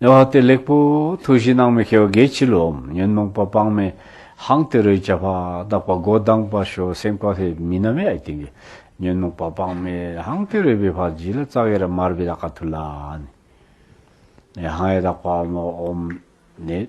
ནས་བ་དེ་ལེགས་པོ་ཐུགས་གཞི་སྣང་མི་ཁེའོ་དགེ་ཕྱི་ལོ་ཉོན་མོངས་པ་སྤང་མེད་ཧང་སྟེ་རོའི་བྱ་བ་བདག་པ་མགོ་གདངས་པ་ཞོ་སེང་པ་ཧེ་མི་ནམ་ཡ་ཡི་ཏིང་གི་ཉོན་མོངས་པ་སྤང་མེད་ཧང་སྟེ་རོའི་བི་བྷ་བྱི་ལ་ཙག་ཡེ་ར་མར་བི་ད་ཀ་ཐུ་ལ། ནས་ཧང་ཡེ་དག་པ་མོ་འོམ་ནས།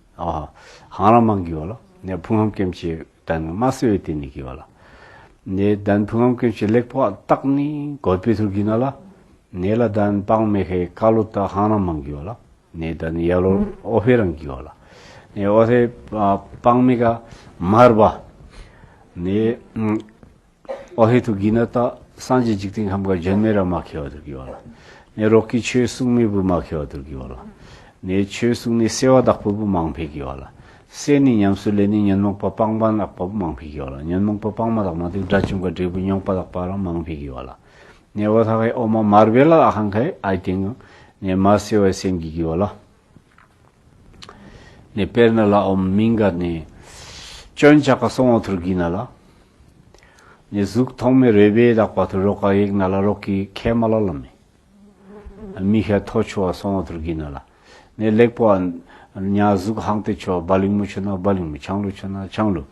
ཧང་རང་མང་གི་ཡོད་ལ། ནས་ཕུང་ཧམ་ཀེམ་ཆེ་དན་ནི་མ་སེ་ཡོད་དེ་ནི་གི་ཡོད་ལ། ནས་དན་ཕུང་ཧམ་ཀེམ་ཆེ་ལེགས་པོ་ཏག་ནི་གོད་པེ་ཐུར་གི་ན་ལ། ནས་ལ་དན་པང་མེ་ཧེ་ཀ་ལོ་ཏག་ཧང་རང་མང་གི་ཡོད་ལ། ནས་དན་ནི་ཡ་ལོ་ཨོ་ཧེ་རང་གི་ཡོད་ལ། ནས་ཨོ་ཧེ་པང་མེ་ཀ་མར་བ། ནས། ཨོ་ཧེ་ཐུགས་ཀྱི་ནི་རྟགས། སངས་རྒྱས་འཇིག་རྟེན་ཁམས་དགའ་བྱོན་མེ་ར་མ་ཁེ་བ་དུར་གྱི་བ་ལ། ནས་རོག་གི་ཆོས་གསུང་མེས་བུ་མ་ཁེ་བ་དུར་གྱི་བ་ལ། ནས་ཆོས་གསུང་ནི་སེ་བ་བདག་པོ་བུ་མང་འཕེལ་གྱི་བ་ལ། སེ་ནི་ཉམས་སུ་ལེ་ནི་ཉོན་མོངས་པ་སྤངས་པ་ནག་པ་བུ་མང་འཕེལ་གྱི་བ་ལ་ཉོན་མོངས་པ་སྤངས་མ་དག་མ་དུག་དགྲ་བཅོམ་ཀ་འདྲའི་བུ་རྙོག་པ་དག་པ་རང་མང་འཕེལ་གྱི་བ་ལ། ནས་བ་ཐ་ཧའི་ཨོ་མ་མར་བེ་ལ་ཨ་ཧང་ཁའི་ཨའི་སྟེང། ནས་མ་སེ་བའི་སེམས་ཀྱི་གྱི་བ་ལ། ནས་དཔེར་ན་ལ་འོམ་མིང་ག་ནས། སྐྱོན་ཆགས་ཀ་སོང་བ་ཐུར་གི་ན་ལ། ནས་གཟུགས་ཐོག་མའི་རོལ་པའི་ལག་པ་ཐུར་རོ་ཀ་ཡིག་ན་ལ་རོག་གི་ཁའི་མ་ལ་ལ་མི། མི་ཤ་ཐོ་ཆུ་བ་སོང་བ་ཐུར་གི་ན་ལ། ནས་ལེགས་པོ། ཉག་གཟུགས་ཧང་ཏེ་ཆུ་བ་བ་ལིང་མོ་ཆུ་ན་བ་ལིང་མོ་ཆང་ལུ་ཆུ་ན་ཆང་ལུ།